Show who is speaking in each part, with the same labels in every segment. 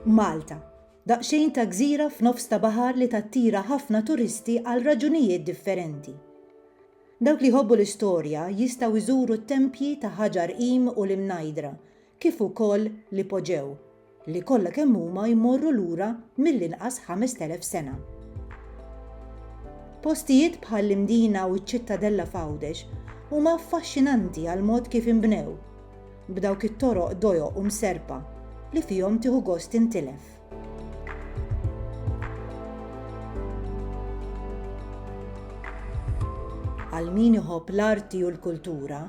Speaker 1: Malta, daqsxejn ta' gżira f'nofs ta' baħar li tattira ħafna turisti għal raġunijiet differenti. Dawk li jħobbu l-istorja jistgħu jżuru t-tempji ta' Ħaġar Qim u l-Imnajdra kif ukoll l-Ipoġew, li kollha kemm huma jmorru lura mill-inqas 5,000 sena. Postijiet bħall-Imdina u ċ-Ċittadella f'Għawdex huma affaxxinanti għall-mod kif inbnew. B'dawk it-toroq dojoq u mserrpa li fihom tieħu gost tintilef. Għal min iħobb l-arti u l-kultura,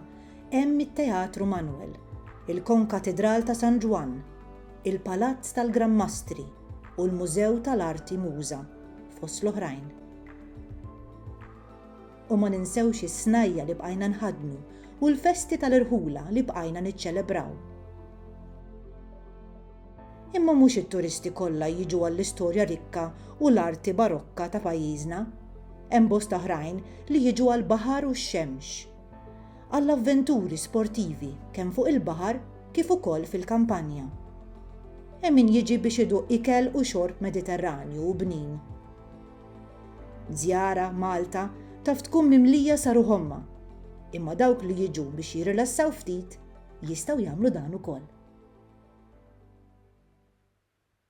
Speaker 1: hemm it-Teatru Manwel, il-Konkatidral ta' San Ġwann, il-Palazz tal-Gran Mastri u l-Mużew tal-Arti Muża, fost l-oħrajn. U ma ninsewx is-snajja' li bqajna nħaddnu u l-festi tal-irħula li bqajna niċċelebraw. Imma mhux it-turisti kollha jiġu għall-istorja rikka u l-arti barokka ta' pajjiżna. Hemm bosta oħrajn li jiġu għall-baħar u x-xemx. Għall-avventuri sportivi kemm fuq il-baħar kif ukoll fil-kampanja. Hemm min jiġi biex iduq ikel u xorb Mediterranju u bnin. Żjara Malta taf tkun mimlija sa ruħ ommha, imma dawk li jiġu biex jirrilassaw ftit jistgħu jagħmlu dan ukoll.